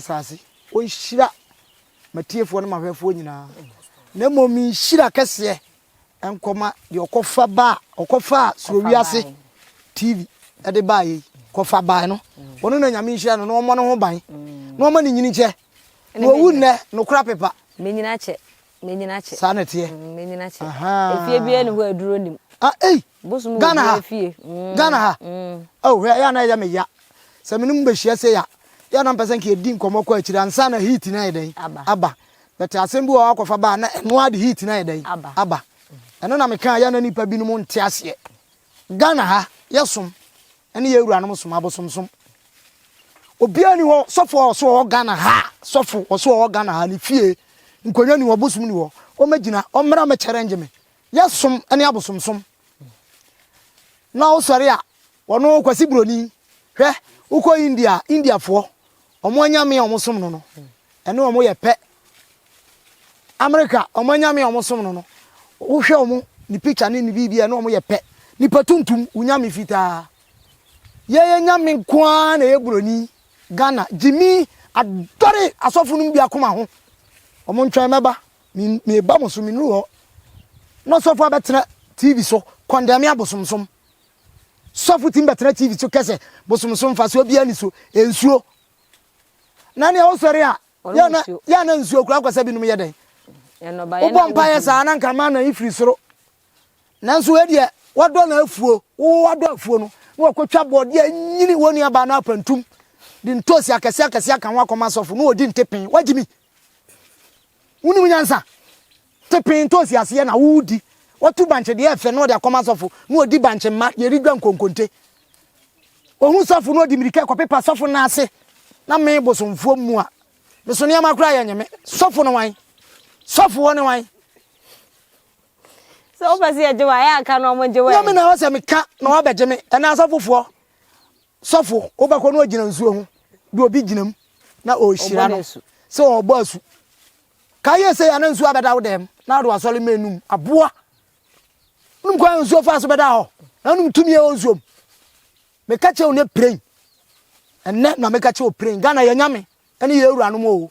asase. Ɔnhyira m'atiefoɔ ne m'ahwɛfoɔ nyinaa, na mmom me nhyira kɛseɛ nkɔma deɛ ɔkɔfa ba a ɔkɔfaa Soro Wiase TV de baeɛ yi, kɔfa bae no. Ɔno na Nyame nhyira no na ɔmmɔ ne ho ban, na ɔma ne nyini nkyɛ, na ɔwu nnɛ, nokora pepa. N'anyini akyɛ. Menyina kyɛ. Saa na ɛteɛ. Mm, menyina kyɛ. Efie biara ni hɔ aduro nim. Ah, ei! Bosom Ghana ha. Fie. Mm, Ghana ha. Mm. Oh, hwɛ, ɛyɛ na ɛyɛ me ya. Sɛ me ne mu bɛhyia sɛ ya. Yɛ na mpɛ sɛ nka yɛdi nkɔmmɔ kɔ akyiri ansa na heat no ayɛ dɛn? Aba. Aba. Bɛte asɛm bi wɔ hɔ akɔfa baa na ɛno ara de heat no ayɛ dɛn? Aba. Aba. Ɛno na meka a yɛ na nnipa binom nte aseɛ. Ghana ha, yɛsom. Ɛne yɛn wuranom som abosomsom. Obiara nni hɔ, sɔfo a ɔso ɔwɔ Ghana ha, sɔfo ɔso ɔwɔ Ghana ha, ne fie, nkonnwa ni hɔ, bosom ni hɔ, ɔmmɛgyina, ɔmmra mmɛ challenge me. Yɛsom ɛne abosomsom. Na wosɔre a, wɔno Kwasi Buroni, hwɛ, wokɔ India a, Indiafoɔ, Wɔn anyame a wɔsom no no, ɛne wɔn yɛ pɛ. Amerika, wɔn anyame a wɔsom no no, wohwɛ wɔn, ne picture ne ne biribi a ɛne wɔn yɛ pɛ. Nipa tuntum, wo nyame fitaa. Yɛyɛ nyame nko ara na ɛyɛ buroni. Ghana, gyimi adɔre asɔfo no mu biako ma ho. Wɔn ntwɛn mɛba, meba mo so, menuru hɔ. Na ɔsɔfo abɛtena TV so, kɔndɛme abosomsom. sɔfo tim bɛtena tv so kɛsɛ bosom so mfa so obi ani so nsuo na nea wosɔre a yɛ na yɛ na nsuo kura kɔsɛ binom yɛ dɛn wobɔ mpa yɛ saa na nka ma na ifiri soro nanso wei deɛ wadɔ na afuo wo wadɔ afuo no na wakɔtwa bɔɔdeɛ anyini wɔ nuabaa no apantum de ntoosi akɛse akɛse aka ho akɔma asɔfo na ɔdi ntepen wagyimi wonim nyansa Te pee ntɔ si aseɛ na wo di. Wa tu bankye deɛ ɛfɛ na ɔde akɔma sɔfo na ɔdi bankye mma deɛ ɛredwa nkonkonte. Ɔhu sɔfo na ɔde mirika kɔ pepa sɔfo nan ase na me bosomfoɔ mmua me so nneɛma koraa yɛ nyeme. Sɔfo ne wan? Sɔfoɔ ne wan? Sɛ wopɛ sɛ yɛgye wo a, yɛ a ka na wɔgye wo ɛ. Nyame na ɛwɔ sɛ meka na wɔabɛgye me ɛnɛ asɔfofoɔ. Sɔfo wobɛkɔ na ɔgyina nsuo ho de obi gyina mu na ɔrehyira no sɛ ɔrebɔ asu. Ka yɛ sei a na nsuo abɛda wo dɛm na wode w'asɔre mmɛn nom. Aboa! Wonim kwan a nsuo faa so bɛdaa hɔ? Na wonim tumi a ɛwɔ nsuo mu? Meka kyerɛ wo ne pirain. Ɛnnɛ na meka kyerɛ wo pirain. Ghana yɛ nyame ɛne yɛ awuranom o.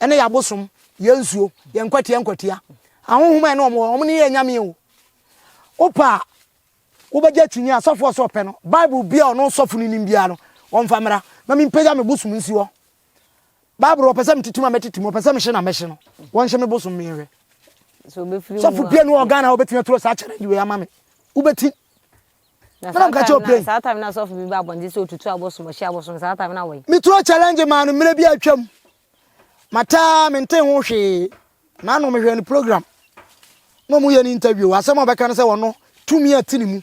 Ɛne yɛ abosom, yɛ nsuo, yɛ nkwatia nkwatia. Ahohom a ɛne wɔn wɔ, wɔn ne yɛ nyame o. Wopa a wobɛgye akyinnye a sɔfoɔ sɛ ɔpɛ no, Bible biara ɔno sɔfo no nim biara no, wɔmfa mmra na mempagya me bosom nsi hɔ. bible ɔpɛ sɛ metete mu a mɛtete mu ɔpɛ sɛ mehye na mɛhye no wɔnhyɛ me bosom meyɛhwɛ sɔfo pie no wɔ ghana a wobɛtumi aturo saa challenge wei ama me wobɛti mena mka kyɛ ɔpɛ saa time na sɔfo bi ba abɔnten sɛ ɔtutu abosom ɔhye abosom saa time na wɔyi meturo challenge maa no mmerɛ bi atwam mataa mente ho hwee na ano mehwɛ no program na ɔmo yɛ no interview asɛm a ɔbɛka no sɛ wɔno tumi a ti ne mu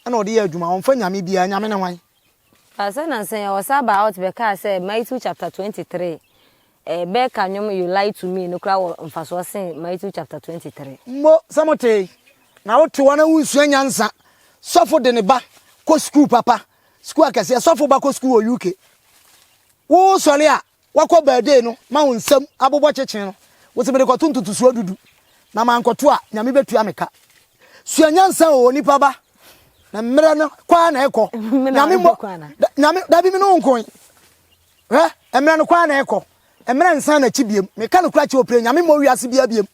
ɛna ɔde yɛ adwuma ɔmfa nyame biara nyame ne hwan Pastor Nansan Ɔsa baa out bɛkaa sɛ Maitew chapter twenty three ɛɛ bɛɛka nnwom You Lie to Me no koraa wɔ mfasoɔ sen Maitew chapter twenty three. Mo sɛ mo tee, na wo te hɔ na wonsua nyansa, sɔfo de ne ba kɔ sukuu papa, sukuu akɛseɛ, sɔfo ba kɔ sukuu wɔ UK, wo sɔre a, Wakɔ birthday no ma wo nsam abobɔ kyekyee no wo se merekɔto ntotosoɔ dudu na mankɔto a Nyame bɛtua me ka. Sua nyansa o onipa ba na mmerɛ no kɔ ara na ɛkɔ Nyame mmɔ da Nyame dabi me ne wo nko yi hwɛ mmerɛ no kɔ ara na ɛkɔ mmerɛ nsan n'akyi biem meka no kora kyɛ wo pire Nyame mmɔ wiase bia biem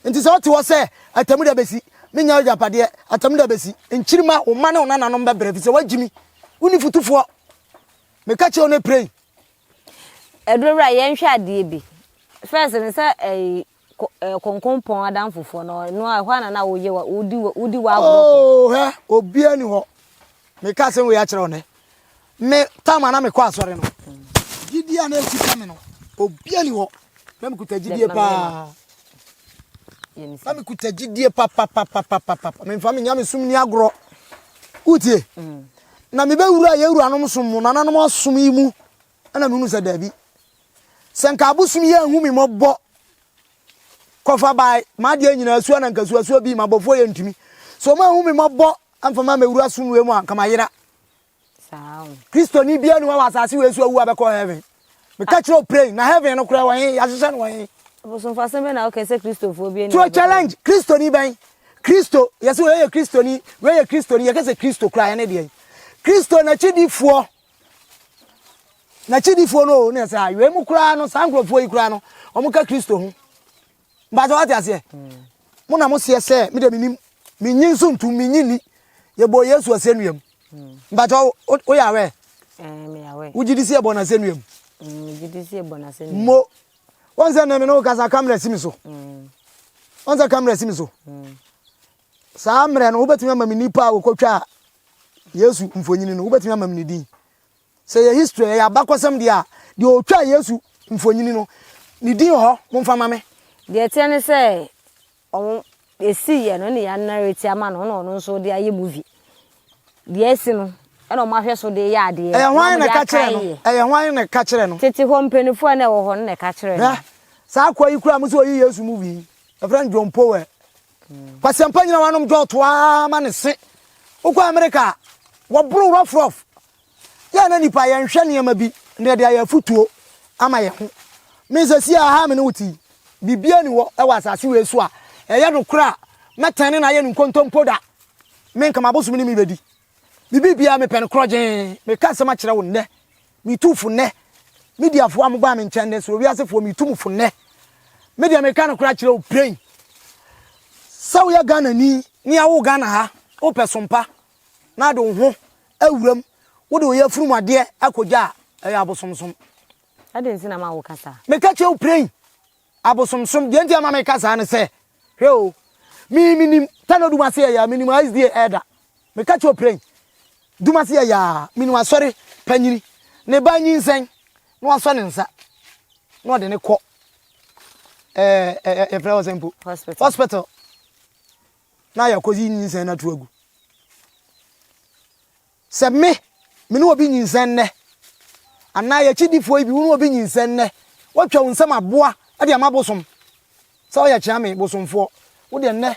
nti sɛ wote hɔ sɛ atamu da bɛsi menya agyapadeɛ atamu da bɛsi nkyirima wo mma ne wo nananom bɛbrɛ fi sɛ woagyimi wo ni futufoɔ Meka kyerɛ wo no pray. Ɛduru berɛ a yɛnhwɛ adeɛ bi. First no sɛ ɛyi konkonpɔn adamfofoɔ no no a ɛhɔ ana na woyɛ wa wodi wodi wa agorɔ. Oo hɛ obiara ni hɔ. Meka sɛ wei akyerɛ wo nɛ. Me tam ana mekɔ asɔre no. Gyidie a na ɛkuta me no obiara ni hɔ. Na mekuta gyidie paa. Na mekuta gyidie papapapapapa. Memfa me nyamesom ni agorɔ. Wotie? Na mebɛwuraa yɛn wuranom som mo nananom ɔsom yi mu na mehunu sɛ daabi. Sɛ nka abosom yi anhu me mmɔbɔ kɔfa bae m'adeɛ nyinaa sua na nka suasua bii m'abɔfoɔ yɛ ntumi. Sɛ wɔn anhu me mmɔbɔ amfa ma mɛwura som wei mu a nka mayera. Saa o. Kristoni biara ni hɔ a wɔ asase wei so awu a bɛkɔ heaven. Meka kyerɛ wo praying na heaven no koraa wɔ he? Yɛahyehyɛ no wɔ he? Abosomfasɛm bɛn na woka sɛ Kristofoɔ bi ani To a challenge Kristoni bɛn? Kristo, yɛse wei yɛ Kristoni, wei yɛ Kristoni, yɛka sɛ Kristo koraa ɛne deɛn? Kristo n'akyidifoɔ, n'akyidifoɔ no o, ne yɛsɛ ha, wei mu koraa no, saa nkurɔfoɔ yi koraa no, wɔka Kristo ho. Mpatsɔ wate aseɛ? Mo na mo seɛ sɛ me de menim menyi nso ntum menyi ni yɛbɔ Yesu asɛnnua mu. Mpatsɔ woyɛ aware? Wogye di sɛ yɛbɔ no asɛnnua mu? Mo wɔn sɛ nnɛ me ne wo kasa kamera si me so. Wɔn sɛ kamera si me so. Saa mmerɛ no wobɛtumi ama me nipa a wɔkɔtwaa Yesu mfonyini no wobɛtumi ama me ne din. Sɛ ɛyɛ history, ɛyɛ abakɔsɛm deɛ a, deɛ ɔtwaa Yesu mfonini no, ne din wɔ hɔ? Momfa mma me. Deɛ ɛteɛ ne sɛ, wɔn, ɛsiiɛ no, ɛna yɛanarrate ama no, ɛna ɔno nso ɔde ayɛ movie. Deɛ asi no, ɛna wɔn ahwɛ so de yɛ adeɛ, Ɛyɛ na hwan wɔn na de ɛka kyerɛɛ no? akaeɛ. Ɛyɛ hwan na ɛka kyerɛɛ no? Tete hɔ mpaninfoɔ a na ɛwɔ hɔ no na ɛka kyerɛɛ Hwɛ, no. saa akoa yi koraa, mo sɛ ɔyɛ Yesu movie yi, yɛfrɛ no John Powell. Kwasiampa nyina wanom dɔɔ to ara ma ne se. Wokɔ Amerika a, wɔboro wo rough rough. Yɛ a na nnipa yɛnhwɛ nneɛma bi na yɛde ayɛ afotuo ama yɛn ho. Me sesie a ha a me ne wo te yi, biribiara nni hɔ wɔ asase wei so a ɛyɛ nokorɛ a mɛtɛne no ayɛ no nkontompo da. Me nka m'abosome ne me bɛdi. Me biribiara mepɛ no korɔgyee. Meka asɛm akyerɛ wo nnɛ. Metu fo nnɛ. Mediafoɔ a mobaa me nkyɛn nnɛ, soro wiasefoɔ, metu mo fo nnɛ. Me deɛ meka nokorɛ akyerɛ wo plain. Sɛ woyɛ Ghanani ne awo Ghana ha, wopɛ sompa na de wo ho awuram, wode wo yafunu mu adeɛ akɔgya a, ɛyɛ abosomsom. Adɛn nti na ma woka saa? Meka kyerɛ wo plain. Abosomsom, deɛ nti a ma meka saa ne sɛ, hwɛ o, me menim tano dumase yɛyaa, menim a sda ɛda, meka kyɛ oprɛn dumase yɛyaa, menim asɔre panyini, ne ba nyinsɛn na wasɔ ne nsa na ɔde ne kɔ ɛɛ ɛɛ yɛfrɛ hɔ sɛ mpo hospital na yɛakɔyi nyinsɛn no ato agu Sɛ me, me ne obi nyinsɛn nnɛ, anaa yɛ akyidifoɔ yi bi, wo ne obi nyinsɛn nnɛ, woatwa wo nsam aboa de ama bosom, sɛ woyɛ kyeame bosomfoɔ, wo deɛ nnɛ,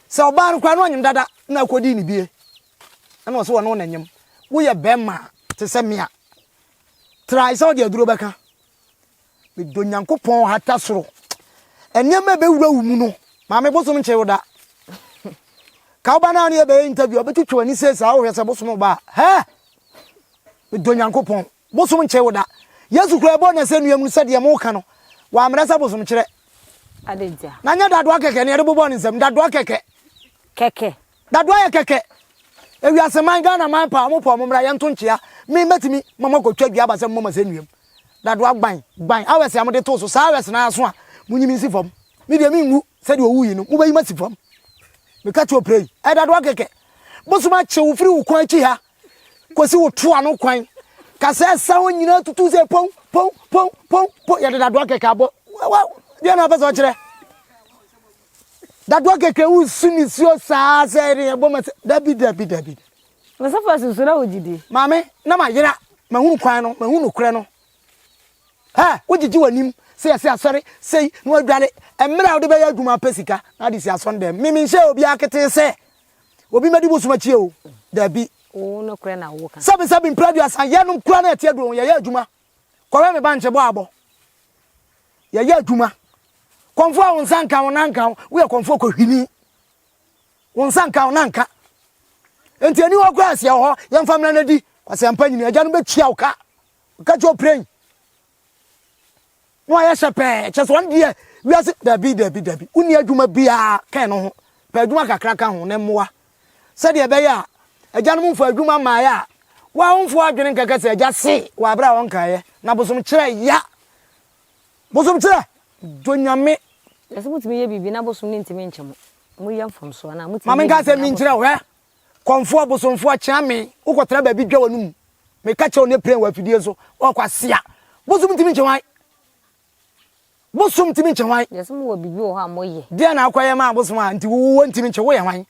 sɛ ɔbaa no koraa na ɔnyem dada na wokɔdii ne bie, ɛna ɔse wɔne wo na nyem, woyɛ bɛrima a, te sɛ me a, try sɛ wode aduro bɛka Medɔ Nyankopɔn hata soro. Nneɛma a ɛbɛwura wo mu no, maame bosom nkye wo da. Ka woba no a ne yɛbɛyɛ interview a bɛtwitwa w'ani sei saa wohwɛ sɛ bosom ba a. Hɛ! Medɔ Nyankopɔn. Bosom nkye wo da. Yesu koraa ɛbɔɔ n'asɛnnua mu no sɛ deɛ moka no, wammrɛ sɛ bosom kyerɛ. Adɛn ntia? Na nyɛ dadoa kɛkɛ na yɛde bobɔɔ ne nsam. Dadoa kɛkɛ. Kɛkɛ. Dado ayɛ kɛkɛ. Ewiase man Ghana man paa ɔmo paa ɔmo mmra yɛnto nkyea me mɛtumi ma mo akɔtwa dua aba sɛ mmɔ mo asɛnnua mu Dado agban gban awɛse a mode too so saa awɛse no ara so a monyi me nsi fam me deɛ menwu sɛdeɛ owu yi no mobɛyi masi fam meka kyerɛ ɔpira yi ɛɛ Dado akɛkɛ bosom akye wo firi wo kwan akyi ha kɔsi wo to ano kwan ka sɛ ɛsa hɔ nyinaa tutu sɛ pon pon pon pon pon yɛde Dado akɛkɛ abɔ wa deɛ na wapɛ sɛ ɔkyerɛ Dadoa kɛkɛ wosu nisuo saa sɛ ɛne ɛbɔ ma sɛ dabi dabi dabi. Na sɛ fa susu na wogye di. Maame na ma yera mahunu kwan no mahunu nokorɛ no. Hɛ wogyegye w'anim sɛ yɛsɛ asɔre sei na wadware mmerɛ a wode bɛyɛ adwuma apɛ sika na ade si asɔn dɛm. Me menhyɛ obiara ketee sɛ obi mɛdi bosom akyi o dabi. Wo nokorɛ na woka. Sɛbi sɛbi mprɛ aduasa yɛnom kura na ɛte aduro ho yɛyɛ adwuma. Kɔwɛ me bankye bɔ abɔ. Yɛyɛ adwuma. Kɔmfo a wo nsa nka wo na nka wo. Woyɛ kɔmfo kɔhwini. Wo nsa nka wo na nka. Enti ani hɔ koraa aseɛ wɔ hɔ. Yɛmfa mmara no di. Kwasɛmpa nyini. Agya no bɛtua wo ka. Ka kyɛ ɔpirɛn. Na wayɛ hyɛ pɛɛ, kyerɛ sɛ ɔno deɛ wiase dabi dabi dabi, wonni adwuma biara ka ɛno ho, pɛ adwuma kakra ka ho, ne mmoa, sɛdeɛ ɛbɛyɛ a agyanom mfaa adwuma mmaeɛ a wɔamfo adwene nkɛkɛ sɛ agya se wɔ aberɛ a ɔnkaeɛ, na bosomkyerɛ ya, bosomkyerɛ dɔ Nyame. Na sɛ motumi yɛ biribi na bosom no ntumi nkyɛ mo, moyɛ mfomsoɔ anaa? Motumi yɛ biribi na bosom. Ma menka asɛm bi nkyerɛ wo, hwɛ, Kɔmfoɔ, bosomfoɔ, kyea me, wokɔtena baabi dwa w'anomu. Meka kyerɛ wo ne pren wɔ afidie so, ɔkwasea. Bosom ntumi nkye hwan? Bosom ntumi nkye hwan? Yes, mo wɔ biribi wɔ hɔ a mo yɛ. Deɛ na akɔyɛ ma abosom a nti wo wo ntumi nkye wo yɛ hwan?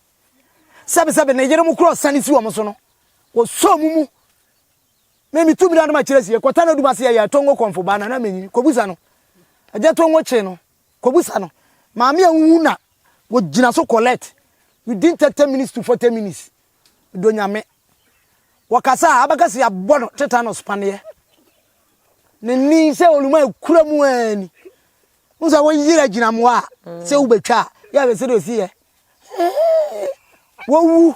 Sɛbi sɛbi ne yere mo kura ɔsane si wɔn so no, wɔsɔ mo mu. Me me tu mmira no ma kyerɛ sie, kɔtana odum ase yɛ yɛ tongo kɔmfo baa nana menyi, kɔbusa no. Agya tongo kye no. Kɔbisa no, maame a wowu na wɔgyina so collect within thirty minutes to forty minutes. Dɔ Nyame. Wɔkasa a, abɛka sɛ yɛabɔ no tetanus paneɛ. Ne nne yi sɛ ɔluma ɛkura mu ara ni. Wohu sɛ woyere agyinamoa a, sɛ wobɛtwa a, yɛ a ɛsɛ dɛ ɔsi yɛ. Wɔwu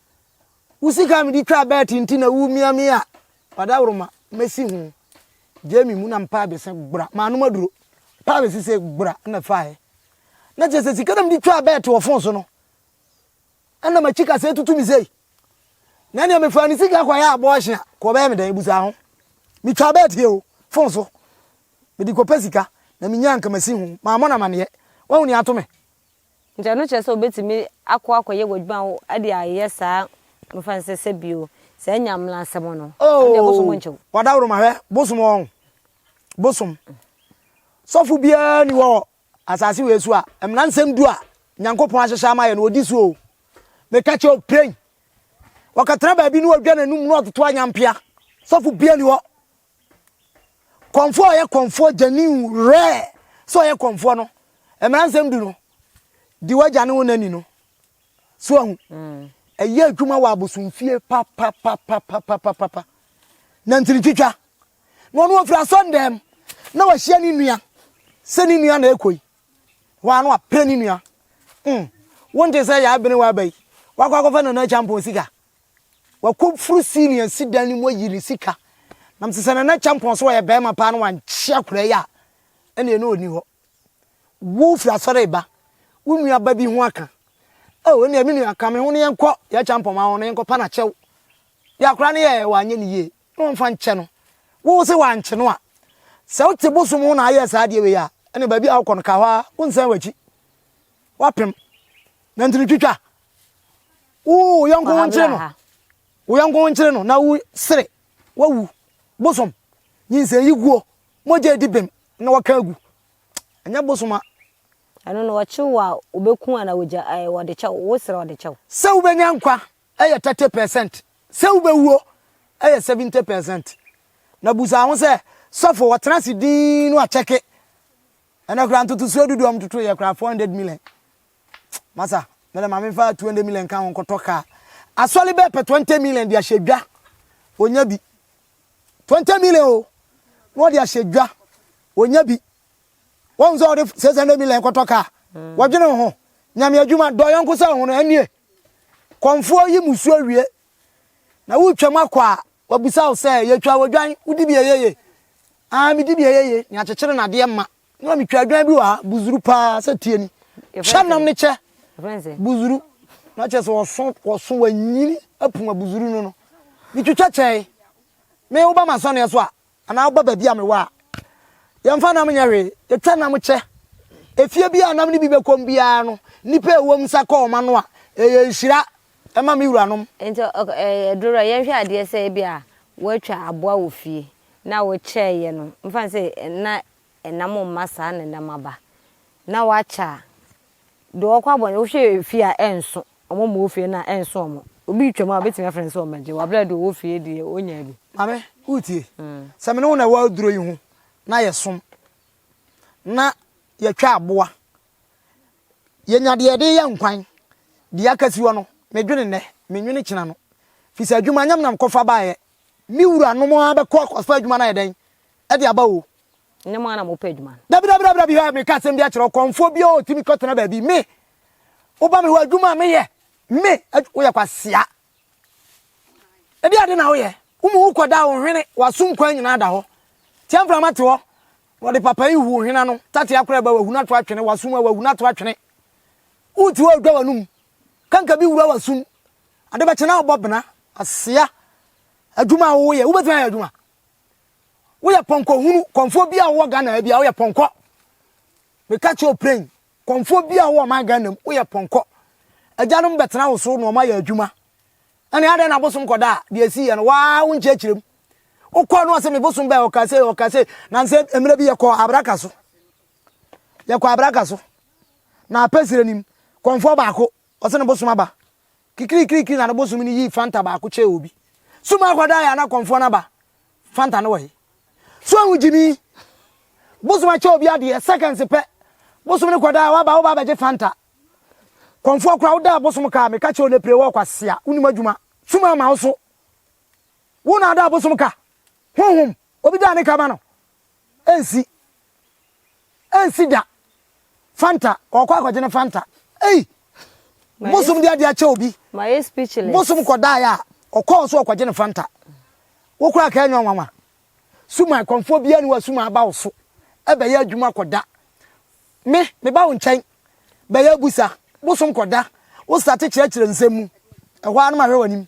Wo sika a mede twaa bɛɛt nti na woremia me a, ɔdaworoma, mɛsi ho. Gyae me mu na mpaa bɛse gbra, manom aduro. Mpaa bɛse sɛ gbra na faeɛ. Na kyerɛ sɛ sika na mede twaa bɛɛt wɔ fon so no, ɛna makyi kasa atutu me sei. Na nea mefaa ne sika kɔyɛ abɔɔhye a, kɔ ɔbɛyɛ me dɛn busa ho. Metwaa bɛɛt yɛ o, fon so. Mede kɔpɛ sika, na menyaa nka masi ho. Mammɔ no amaneɛ. Wahu nea ato me. Nti ɛno kyerɛ sɛ wobɛtumi akɔ akɔyɛ w'adwuma wo de ayɛ saa mefa no sɛ sɛ bio saa nyamlansɛm no ɛno deɛ bosom nkye wo. Wadaworoma hwɛ bosom ɔɔ bosom sɔfo biara ni wɔ asase wei so a mmransɛm du a Nyankopɔn ahyehyɛ ama yɛ no ɔdi so oo meka kyerɛ wo pray wɔkɛtena baabi ne ɔdwa n'anum ne ɔtoto anyampea sɔfo biara ni hɔ Kɔmfoɔ a ɔyɛ kɔmfoɔ gyani werɛ sɛ ɔyɛ kɔmfoɔ no, mmara nsɛm du no, di w'agya ne wo na ni no. So ahu, mm. ɛyɛ adwuma wɔ abosomfie papapapapapapa. Na ntini twitwa. Na ɔno ɔfiri asɔndɛm na wahyia ne nua sɛ ne nua na ɛkɔ yi. Wɔa no apere ne nua. Mm. Wonte sɛ yɛ abene wɔ aba yi. Wakɔ akɔfa nana kyampɔn sika. Wakɔforo Celia si dan no mu ayi ne sika. Nam sɛ sɛ Nana Kyampɔn sɛ ɔyɛ barima paa na wankye akwadaa yi a, ɛnneɛ na ɔnni hɔ. Wo firi asɔre reba, wo nua ba bi ho aka. Oh, ɛnneɛ me nua, ka me ho na yɛnkɔ Yaya Kyampɔn ma hɔ na yɛnkɔpa no akyɛw. Deɛ akwadaa no yɛɛ, wanyɛ no yie, na wɔmfa nkyɛ no. Wo sɛ wankye no a, sɛ wote bosom ho na ayɛ saa adeɛ wei a, ɛnneɛ baabi a wokɔ no, ka hɔ ara, wonsan w'akyi. Woapem. Nantini twitwa, wo yɔnko ho nkyere no wo yɔnko ho nkyere no na wo sere wawu bosom nyinsɛn yi guo mogya edi bem na wɔka agu ɛnyɛ bosom a ɛno na wɔkyew wo a wobɛku ana wɔgya eh, wɔde kyɛw wo serɛ wɔde kyɛw sɛ wobɛnya nkwa ɛyɛ 30 percent sɛ wobɛwuo ɛyɛ 70 percent na busa ho sɛ sɔfo wɔtena se din no akyɛke ɛnɛ koraa ntotosuo dodoɔ mtotoyɛ koraa 400 million Masa, me de ma me nfa 200 million nka ho nkɔtɔ car. Asɔre bɛɛ pɛ 20 million de ahyɛ dwa. Onya bi. 20 million o. Na ɔde ahyɛ dwa. Onya bi. Wɔn sɛ ɔde 600 million kɔtɔ car. Wɔdwene ho. Nyame adwuma dɔ yɔnko sɛ ho no ɛnie. Kɔmfoɔ yi musuo wie. Na wotwam akɔ a wabusa wo sɛ yɛtwa wɔ dwan wodi bi ɛyɛ ye? Aa medi bi ɛyɛ ye. Nea kyekyere nadeɛ ma ne ma metwa adwan bi wɔ ha buzuru paa sɛ tie ni kyɛ nam ne kyɛ buzuru na kyɛ sɛ wɔso wɔso wɔanyini apum abuzuru no no metwitwa kyɛe me woba m'asɔneɛ so a anaa woba baabi a mewɔ a yɛmfa nam nyɛ hwee yɛtwa nam kyɛ efie bi a nam no bi bɛkɔm biara no nnipa ɛwɔ mu sa kɔ wɔn ano a ɛyɛ nhyira ɛma me wuranom. nti ɛdoro yɛnhwɛ adeɛ sɛ ebi a wɔatwa aboa wɔ fie na wɔkyɛɛyɛ no mfa sɛ na nam mma saa na nam aba na wakyɛ a deɛ ɔkɔ abɔ no wohwɛ efie a ɛnso ɔmo ma ofie no a ɛnso ɔmo obi retwam a obetumi afrɛ no sɛ ɔmmɛgye wɔ abira deɛ ɔwɔ fie deɛ onyaa bi. Maame wotie mm. sɛ me ne wo na ɛwɔ aduro yi ho na yɛsom na yɛtwa aboa yɛnya deɛ yɛde yɛ nkwan deɛ aka si hɔ no medwene nnɛ menwene kyina no firi sɛ adwuma nyam nam kɔfa baeɛ Me wuranom ara bɛkɔ akɔfa adwuma no ayɛ dɛn de aba o. Ɛnyɛ mo ara na mopɛ adwuma no. Dabidabidabida bi hɔ a meka asɛm bi akyerɛ wo, kɔmfoɔ biara a ɔtumi kɔtena baabi, me, woba me hɔ adwuma a meyɛ, me, woyɛ kwasea. Ɛdeɛ ade na woyɛ, wo mu wokɔda a wo hwene, w'aso nkwan nyinaa da hɔ. Tia mframa te hɔ, wɔde papa yi hu wo hwene ano, tatea koraa ba w'ahunu ato atwene, w'aso mu a w'ahunu ato atwene. Wote hɔ a wodwa w'anom. Kanka bi wura w'asom. Ade bɛkye na wobɔ bena. Asea, adwuma a woyɛ, wobɛtumi ayɛ adwuma. Woyɛ pɔnkɔ hunu, kɔmfoɔ bi a wowɔ Ghana bi a woyɛ pɔnkɔ. Meka kyerɛ ɔpren, kɔmfoɔ bi a wowɔ ɔman Ghana mu, woyɛ pɔnkɔ. Agyanom bɛtena wo so na wɔn ayɛ adwuma. Ɛne adɛn na abosom kɔda a deɛ ɛsi yɛ no waa wonkyerɛkyerɛ mu. Wokɔɔ no ɔse me bosom bɛɛ ɔka sei ɔka sei. Nansa mmerɛ bi yɛkɔɔ abraka so. Yɛkɔ abraka so na apɛ serɛ no mu, kɔmfoɔ baako, ɔse ne bosom aba. Kikirikirikiri na ne bosom no yii Fanta baako kyɛɛ obi. Sum akɔda yɛ a na kɔmfoɔ no aba. Fanta no wɔ he? So ahu gyimii? Bosom akyɛ obi adeɛ, seconds pɛ, bosom no kɔda a waba woba abɛgye Fanta. Kɔmfoɔ koraa wodaa bosom ka a, meka kyerɛ wo nɛ pire wɔ kwasea, wonim adwuma, sum ama wo so. Wo na adaa bosom ka, honhom, obi daa ne ka ma no. Ɛnsi. Ɛnsi da. Fanta, ɔkɔ akɔgye ne Fanta. Ei! Bosom de ade akyɛ obi. Mayɛ speechless. Bosom kɔdaeɛ a, ɔkɔɔ so ɔkɔgye ne Fanta. Wo koraa ka ɛnyɛ nwanwa. Suma, kɔmfoɔ biara ni wa Suma aba wo so. Ɛbɛyɛ adwuma kɔda. Me, meba wo nkyɛn. Bɛyɛ abusa. Bosom kɔda. Wo starte kyerɛkyerɛ nsɛm mu. Ɛhɔ ara no mahwɛ w'anim.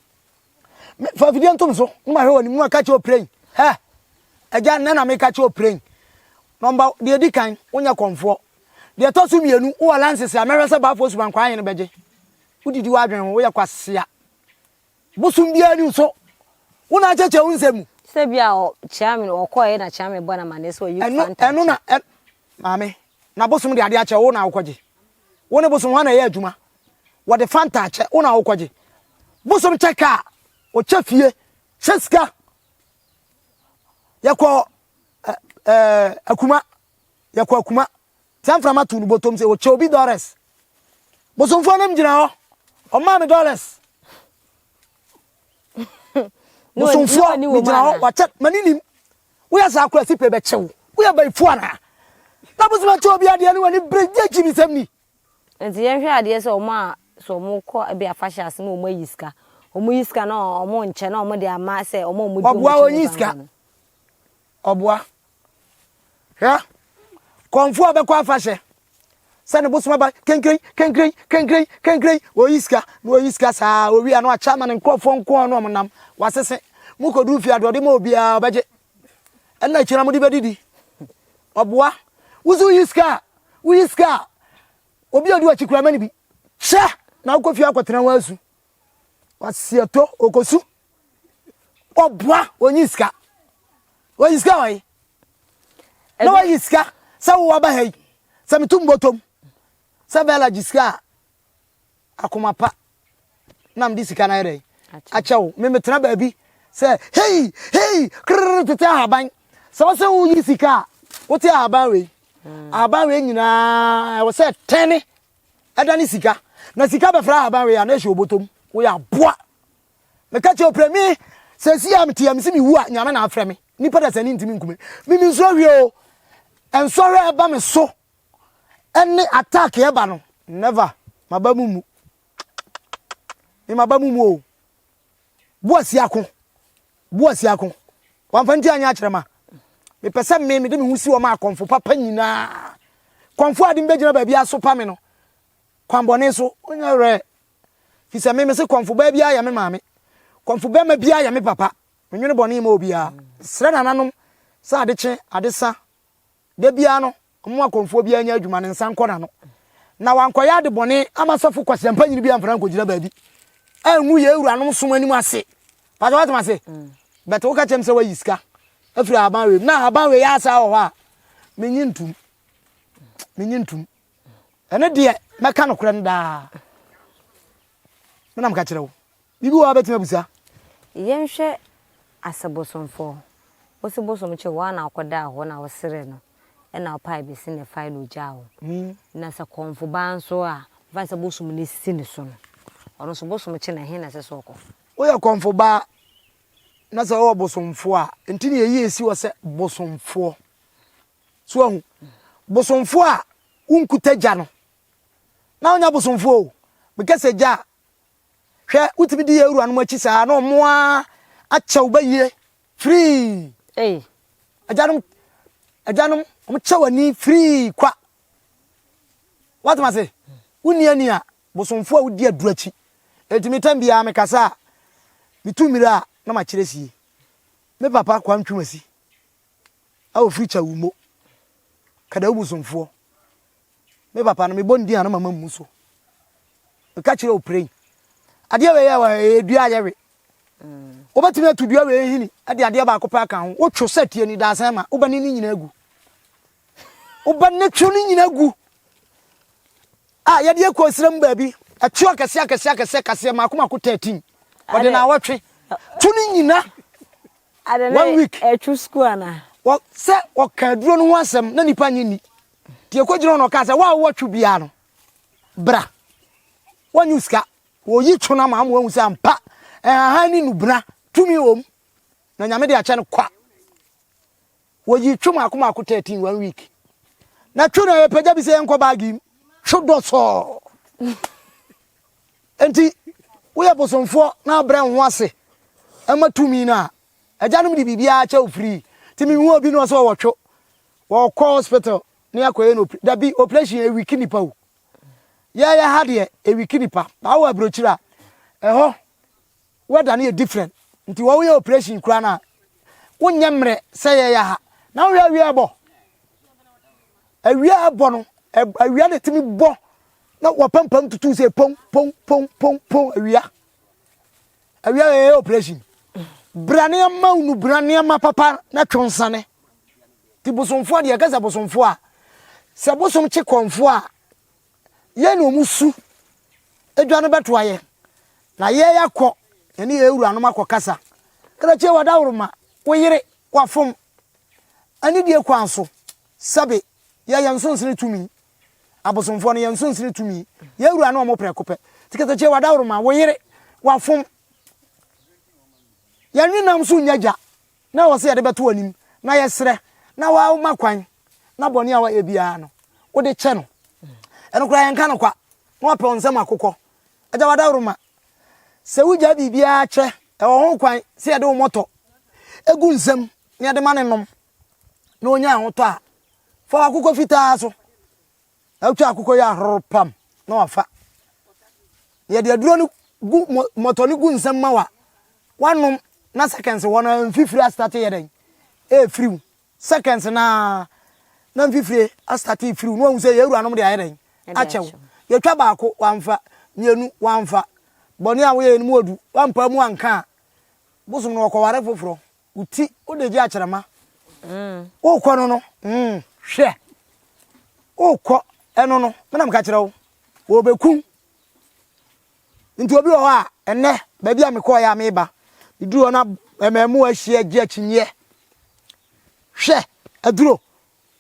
Me fa video ntom so. Mo ma hwɛ wɔ ne mu a ka kyerɛ opiren. Hɛ. Agya nna na me ka kyerɛ opiren. Number deɛ edi kan wonyɛ kɔnfoɔ. Deɛ ɛtɔ so mmienu wowɔ lances a mɛhwɛ sɛ baafoɔ suban kwan yɛn bɛgye. Wodidi w'adwene ho woyɛ kwasea. Bosom biara ni nso. Wo na akyɛkyɛ wo nsɛm mu. Sɛ bi a ɔ kyea me ɔkɔɛ na kyea me bɔ na ma ne sɛ ɔyi fan tankyɛ. Ɛno na ɛ maame. Na bosom de ade akyɛ wo, wo na wokɔgye. Wo ne bosom hwan na ɛyɛ adwuma? Wɔde Fanta akyɛ, wo na wokɔgye. Bosom kyɛ kaa, ɔkyɛ fie, hyɛ sika. Yɛkɔ ɛ ɛ akuma, yɛkɔ akuma. Sɛ mframa tu no botom sɛ ɔkyɛ obi dɔres. Bosomfoɔ nam gyina hɔ, ɔmaa me dɔres. Bosomfoɔ me gyina hɔ, wakyɛ, m'ani nim. Woyɛ saa koraa sipe bɛkyɛ wo. Woyɛ bayifo anaa? Na bosom akyɛ obi adeɛ ne w'ani bere gye akyinnusɛm ni. Nti yɛnhwɛ adeɛ sɛ wɔn a sɛ wɔn kɔ ebi afahyɛ ase na wɔn ayi sika, wɔn yi sika na wɔn nkyɛ na wɔn de ama sɛ wɔn a wɔn di wɔn akyi ne banbɔ no. Ɔboa. Hwɛ, kɔnfoɔ a ɔbɛkɔ afahyɛ. sɛ ne bosom aba kenkren kenkren kenkren kenkren wɔyi sika na wɔyi sika saa wɔwi ano akyɛ ama ne nkurɔfoɔ nkoa no ɔmo nam wasese mo kɔduru fie adeɛ ɔde ma obiara ɔbɛgye ɛna akyina mo de bɛdidi ɔboa woso yi sika a woyi sika a obi a ɔdi wakyi kura mani bi kyɛ na wokɔ fie akɔtena ho asu Wasiɛtɔ okosu ɔboa onyi sika onyi sika wɔ yi na wayi sika sɛ wo waba ha yi sɛ metu mbɔtɔm sɛ bɛla gye sika a akoma pa na mede sika no ayɛ dɛ akyɛ wo me metena baabi sɛ hei hei krrr tete ahaban sɛ wo sɛ woyi sika a wote ahaban wei mm. ahaban wei nyinaa ɛwɔ sɛ tɛne ɛda ne sika na sika bɛfra ahaban wei a na ɛhyɛ obotom woyɛ aboa meka kyɛ oprɛ me sɛsi a mete a mese mewu a nyame na afrɛ me nipa da sani ntimi nkume me me nsuo hwie o nsɔhwɛ ɛba me so ɛne attack ɛba no never maba mu mu me maba mu mu o Boasi ako, Boasi ako, wamfa nti anyɛ akyerɛ ma. Mepɛ sɛ me mede me ho si wɔn a kɔmfo papa nyinaa. Kɔmfo a de mbɛgyina baabi asopa me no, kwanbɔne so, ɔnyɛ werɛ. Fi sɛ me mese kɔmfo baa biara yɛ me maame, kɔmfo bɛrima biara yɛ me papa. Menwene bɔne ma obiara. Mesrɛ nananom sɛ adekye, adesa, da biara no, Mo akɔmfoɔ biara nyɛ adwuma ne nsa nkɔ n'ano, na wankɔyɛ ade bɔne ama sɔfo kwaseampanyini bi amfra ankɔgyina baabi angu yɛn wuranom som anim ase. Paatwa woate m'ase? Mm. Bɛte woka kyɛm sɛ woayi sika afiri ahaban wei mu na ahaban wei yɛ asaa wɔ hɔ a menye ntum. Menye ntum. Ɛno deɛ mɛka nokorɛ no daa. Menam ka kyerɛ wo. Biribi wɔ hɔ a wobɛtumi abisa? Yɛnhwɛ ase bosomfo. Wosi bosom kye wo a na wokɔdaa hɔ na woseree no na wopae besi ne fae na ogyaa wo. Na sɛ kɔmfo ba nso a, mfa no sɛ bosom no si ne so no, ɔno nso bosom kye no, ɛhe na ɛsɛ sɛ ɔkɔ? Woyɛ kɔmfo ba na sɛ wowɔ bosomfo a, enti na eyi esi hɔ sɛ bosomfoɔ. So woahu? Bosomfo a wonkuta gya no, na wonyɛ bosomfo o. Mekasa gya a, Hwɛ wotumi di yɛ wuranom akyi saa na ɔmo a akyɛ wo bɛyie firii Ei. agyanom agyanom ɔmo kyɛ w'ani firii kwa wate ma se wonni ani a bosomfo a wodi aduru akyi enti me tam biara mekasa a metu mmira a na makyerɛ sie me papa kwa ntwumasi a ofiri Kyawumo, Kadawu bosomfoɔ. Me papa no, mebɔ ne din a na mama mmu so. Meka kyerɛ wo prɛn, adeɛ wei yɛ wɔ ha, ɛyɛ dua a yɛwe. Wobɛtumi atu dua wei nhini de adeɛ baako pɛ aka ho. Wotwo sɛ tie ni daasɛn ma, wobɛne ne nyinaa gu. Wobɛne two ne nyinaa gu. A yɛde akɔ nsira mu baabi, ɛtwe akɛseɛ akɛseɛ akɛseɛ kaseɛ, mako mako 13. Wɔde na awɔtwe. Two ne nyinaa. Ada na one week ɛtwo sukuu anaa. Wɔ sɛ ɔka aduro no ho asɛm na nipa nye ni nti ekogyina hɔ na ɔka sɛ wa a wowɔ two biara no bra wɔnye sika wɔyi two no ama ama wɔahu sɛ ampa ɛhahan ne nubena tumi wɔ mu na nyame de akyɛ no kwa. Wɔyi twe mako mako 13 one week. Na twe no ɛyɛ pɛgya bi sɛ yɛnkɔ baagi mu. Twe dɔ sɔɔ. Enti woyɛ bosomfoɔ na abrɛ wo ho ase ɛma tumi no a, agyanom de biribiara kyɛ wo free. Nti mehu obi na ɔsɛ ɔwɔ twe. Wɔkɔ hospital ne akɔyɛ no operation. Dabi operation ɛwiki nipa o. Yɛyɛ ha deɛ ɛwiki nipa. Baa wɔ aburokyiri a ɛhɔ Weather no yɛ different nti wɔ woyɛ operation koraa no a wonyɛ mmerɛ sɛ yɛyɛ ha na wohwɛ awia ɛbɔ awia ɛbɔ no awia na ɛtumi bɔ na wɔpampam tutu sɛ pon pon pon pon pon awia awia yɛyɛ operation bra nneɛma wunu bra nneɛma papa na twɛ nsane ti bosomfoɔ deɛ ɛkɛ sɛ bosomfoɔ a sɛ bosom kye kɔnfoɔ a Yɛn na wɔn su edwa no bɛtoa yɛn, na yɛn akɔ yɛne yɛn wuranom akɔkasa. Krakye w'adaworoma, wo yere, wafom. Anidie kwan so, sɛbe, yɛ yɛn nsonsene tumi. Abosomfoɔ no, yɛn nsonsene tumi. Yɛn wura ne wɔn prɛko pɛ. Nti krakye w'adaworoma, wo yere, wafom. Yɛn nwenam so nnya gya, Na ɔwɔ sɛ yɛde bɛto w'anim, na yɛsrɛ na woma kwan na bɔne a wayɛ biara no, wode kyɛ no. Ɛno koraa yɛnka no kwa, na wapɛ wo nsam akokɔ. Agya, w'adaworoma, sɛ wogyae biribiara kyɛ, ɛwɔ ho kwan sɛ yɛde wo mmɔtɔ gu nsam na yɛde ma no nom na ɔnya ahotɔ a, fa w'akokɔ fitaa so Na wotwa akokɔ yi ahoro pam na wafa. Na yɛde aduro no gu mmɔtɔ no gu nsam ma wa wanom na seconds hɔ na mfifire astate yɛ dɛn ɛrefiriw seconds na na mfifire astate refiriw na wɔn sɛ yɛn awuranom de ayɛ dɛn akyɛw yɛtwa baako wamfa mmienu wamfa bɔne a woyɛ no mu odu wampa mu anka a bosom no wɔkɔware foforɔ Wo ti wo de gye akyerɛma. Wokɔ no no, hwɛ, wokɔ ɛno no, me na meka kyerɛ wo, wɔbɛkum. Nti obi wɔ hɔ a, ɛnnɛ, baabi a mekɔɔeɛ a meba, meduru hɔ na mmaamu ahyia gye akyinnyeɛ. Hwɛ, aduro,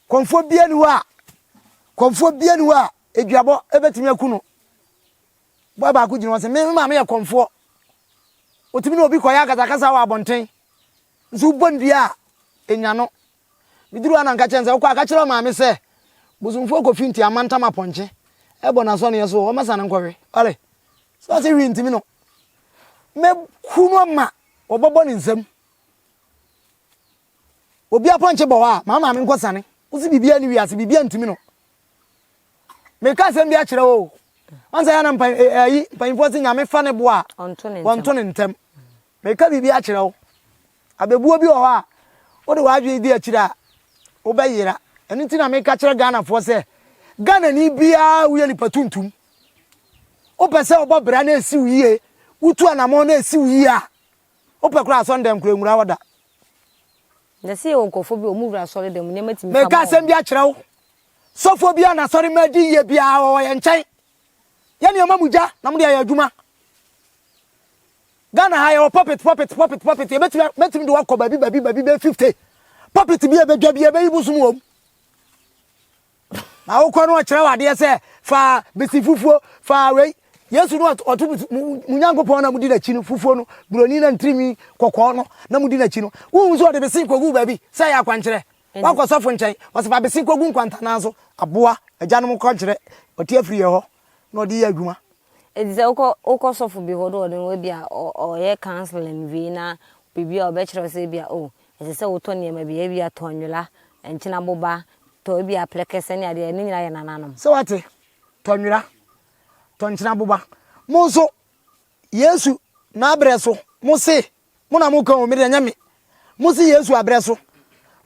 kɔmfoɔ bia ni hɔ a, kɔmfoɔ bia ni hɔ a, aduabɔ bɛtumi aku no. Boa baako gyina hɔ, ɔse, Me maame yɛ kɔmfoɔ. Ɔtumi ne obi kɔyɛ akasakasa wɔ abɔnten. Nso wobɔ no dua a, ɛnya no. Meduru hɔ a na meka kyerɛ no sɛ, Wokɔ a, ka kyerɛ ɔmaame sɛ, Bosomfoɔ kɔ Finti amantam apɔnkye ɛbɔ n'asɔneɛ so hɔ, ɔmmɛsa no nkɔwe. Ɔre. So ɔse hwee ntumi no. Mɛku no ma wɔbɛbɔ ne nsam. Obi apɔnkye bɔ hɔ a, ma wo maame nkɔsane. Wose biribiara ni wiase, biribiara ntumi no. meka asɛm bi akyerɛ wo ɔnsɛ yɛ na mpa eh, eh, ayi mpanyinfoɔ sɛ nyame fa ne bo a wɔnto ne ntɛm meka biribi akyerɛ wo abɛbuo bi wɔ hɔ a wode w'adwene di akyiri a wobɛyera ɛno nti na meka kyerɛ ghanafoɔ sɛ ghanani biara woyɛ nipa tuntum wopɛ sɛ wobɔ bra na ɛsiw yie wotu anamɔ na ɛsiw yie a Wopɛ koraa asɔre dɛm koraa nwura hɔ da. Na sɛ yɛwɔ nkurɔfoɔ bi a wɔn wura asɔre dɛm nneɛma tumi fa ma wɔn. Meka asɛm bi akyerɛ wo. Sɔfoɔ bi a n'asɔre ma di yie biara wɔwɔ yɛn nkyɛn. Yɛne wɔn amu gya na wɔde ayɛ adwuma. Ghana ha yɛwɔ pulpit pulpit pulpit pulpit yɛbɛtumi mɛtumi de wakɔ baabi baabi baabi bɛyɛ fifty pulpit bi a ɛbɛdwa bi ɛbɛyi bosom wɔm. Na wokɔ no ɔkyerɛ wadeɛ sɛ fa besi fufuo fa wei yesu no ɔto mu nyankopɔn na mudi n'akyi no fufuo no buroni na ntirinwi kɔkɔɔ no na mudi n'akyi no wohu sɛ ɔde besi kɔgu baabi sɛ yɛ akwankyerɛ wakɔ sɔfo nkyɛn ɔsɛ fa besi kɔgu nkwantanaa so aboa agyanom kɔnkyerɛ ɔte afiri yɛ hɔ na ɔde yɛ adwuma Enti sɛ wokɔ wokɔ sɔfo bi hɔ na ɔne wo ebia ɔyɛ counselling wie na biribi a ɔbɛkyerɛ wo sɛ ebia oh ɛsɛ sɛ wotɔ nneɛma bi ebia tɔ nwola, nkyena boba, tɔ ebia aplɛkɛsɛ ne adeɛ ne nyinaa yɛ nananom. Sɛ wate? Tɔ nwola, tɔ nkyena boba. Mo nso Yesu n'abrɛ so mo se mo na mo ka o me deɛ ɛnyɛ me. Mo se Yesu abrɛ so.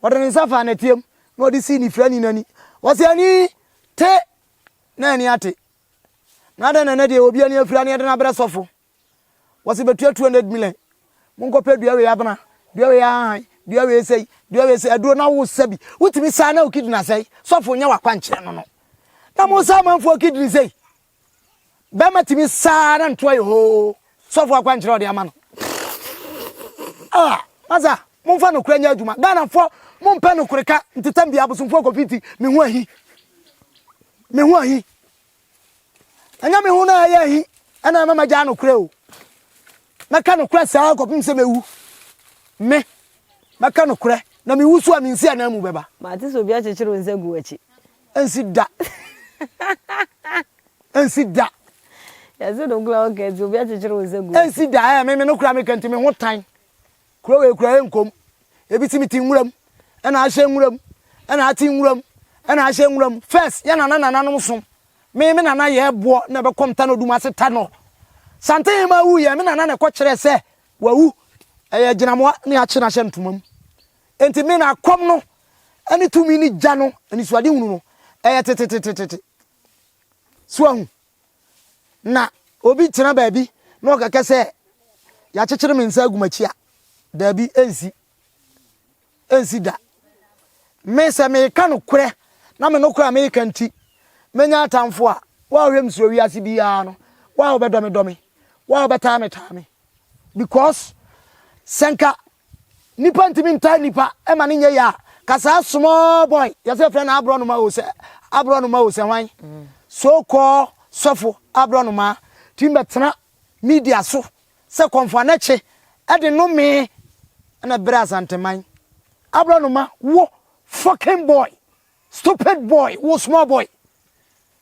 Ɔde ne nsa faa nɛteɛ mu na ɔde sii ne firani no ani. Ɔse ani te na ani ate. Na adɛn na ɛnɛ deɛ obi ani afira ne yɛde no abrɛ sɔfo? Wɔse bɛtua 200 million. Monkɔpɛ dua wei abena, dua wei ahahan, dua wei sei, dua wei sei, aduro na wosa bi. Wotumi saa na wo kidney asɛe. Sɔfo nyɛ wakwankyerɛ no no. Na mosa amanfoɔ kidney sei. Bɛrima tumi saa na ntoa yɛ hoo. Sɔfo akwankyerɛ a ɔde ama no. Ah, masa, momfa nokora nyɛ adwuma. Ghanafoɔ, mompɛ nokore ka. Ntetɛm bia abosomfoɔ kɔfi nti, me ho ahi. Me ho ahi. Ɛnyɛ me ho na ɛyɛ ahi, ɛna ɛma magyaa nokore o. Mɛka nokora saa kɔpem sɛ mɛwu. Me, mɛka nokora, na mewu so a mensi ananmu bɛba. Mate sɛ obi akyekyere wo nsa gu w'akyi. Ɛnsi da. Ɛnsi da. Yɛse no kura wo kɛntsi obi akyekyere wo nsa gu. Ɛnsi da ɛɛ meme no kura me kɛntsi me ho tan. Kuro wei kura ɛnkom. Ebi si me ti nwuram ɛna ahyɛ nwuram ɛna ati nwuram ɛna ahyɛ nwuram. First yɛ nana nananom som. Me me nana yɛ ɛboɔ na ɛbɛkɔ mtano dum ase ta no. Sante hema wu yɛ me nana na ɛkɔ kyerɛ sɛ wawu. Ɛyɛ gyinamoa ne akye na ahyɛ ntoma mu. Enti me na kɔm no ne tumi ne gya no anisoadehunu no yɛ tetetetete. So ahu? Na obi tena baabi na ɔkɛkɛ sɛ yɛakyekyere me nsa agu m'akyi a, daabi, ensi. Ensi da. Me sɛ meka nokorɛ na me nokorɛ a meka nti menya atamfo a, wo a wohwɛ me so wɔ wiase biara no, wo a wobɛdɔ me dɔ me, wo a wobɛtaa me taa me. Because sɛ nka Nipa ntumi ntaa nipa ɛma ne nyɛ yaa ka saa small boy yɛsɛ yɛfrɛ no aborɔnoma o sɛ aborɔnoma o sɛ hwan so call sɔfo aborɔnoma tumi bɛtena media so sɛ kɔmfoanɛkye ɛde nome ɛna brɛ asanteman aborɔnoma wo fucking boy stupid boy wo small boy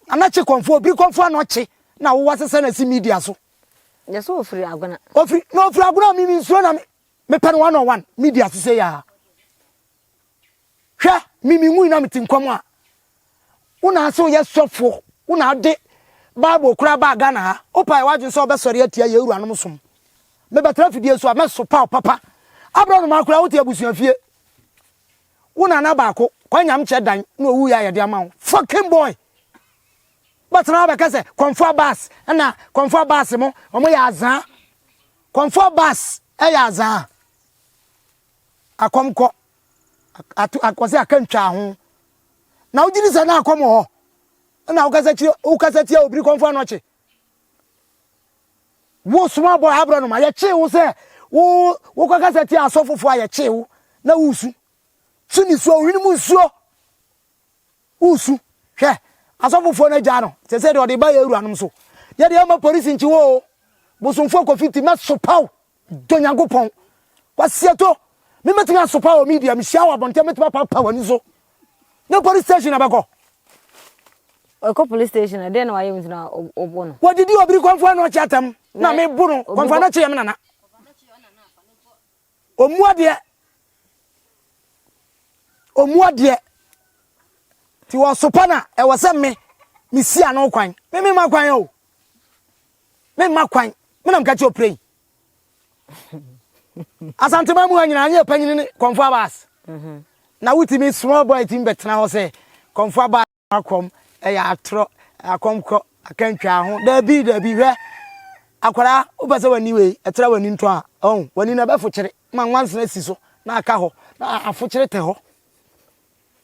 anakye kɔmfoɔ biri kɔmfoɔ anɔkye na wowɔ asesɛ na si media so Yɛ sɛ ɔfiri Agona. Ɔfiri, na ɔfiri Agona, me mensuro na me, mepɛ no one on one, medi ase sɛ yɛa. Hwɛ, me menwui na mete nkwa mu a, wo na ase woyɛ sɔfo, wo na ade Bible koraa baa Ghana ha, wopae w'adwene sɛ wobɛsɔre atia yɛn awuranom som. Mebɛtra fidie so a, mɛsopa wo papa. Aberɛ no maa koraa wote abusua fie. Wo nana baako, Kwanyam kyɛ dan, na ɔwuiɛ a yɛde ama wo. Fucking boy! Bɛtena hɔ bɛka sɛ Kɔmfoɔ Baas na Kɔmfoɔ Baas mo ɔmo yɛ azaa Kɔmfoɔ Baas yɛ azaa Akɔm kɔ ato ak wɔse aka ntwaa ho Na wo gyidi sɛ na akɔm wɔ hɔ na wo kasa kyire wo kasa tia obiri Kɔmfoɔ Anɔkye Wo soma bɔ abrɔ no ma yɛ kyee wo sɛ wo wo kɔ kasa tia asɔfofoɔ a yɛ kyee wo na wo su su nisuo wo hwene mu nsuo. Wosu, hwɛ, asɔfofoɔ no agyaa no, sɛ sɛdeɛ ɔde ba yɛn wuranom so. Yɛ deɛ ɛmma polisi nkye wo o, bosomfoɔ Kofiti, mɛsopa wo, dɔ Nyankopɔn. Kwasiato, me mɛtumi asopa wɔ media, mehyia wɔ abɔnten a mɛtumi apapa w'ani so. Ne police station abɛkɔ. Ɔkɔ police station a, deɛ na wayɛ wo ntina ɔbɔ no. Wɔdidi obiri kɔnfoɔ ano ɔkye atam, na mebo no, kɔnfoɔ ano ɔkye yɛ me nana. Ɔmua deɛ ɔmua deɛ ti wɔsopa na ɛwɔ sɛ me mesi ano kwan me me ma kwan o me ma kwan me nam kakyɛ ɔpire yi asantema mu ha nyinaa anyɛ panyini ne kɔmfo abas mhm. na wotumi small boy tumi bɛtena hɔ sɛ kɔmfo abas akɔm ɛyɛ atorɔ akɔm kɔ akantwaa ho dabi dabi hwɛ akwadaa wopɛ sɛ w'ani wei ɛtra w'ani ntɔ a ɔn w'ani na ɛbɛfokyere ma nwansena si so na aka hɔ na afokyere tɛ hɔ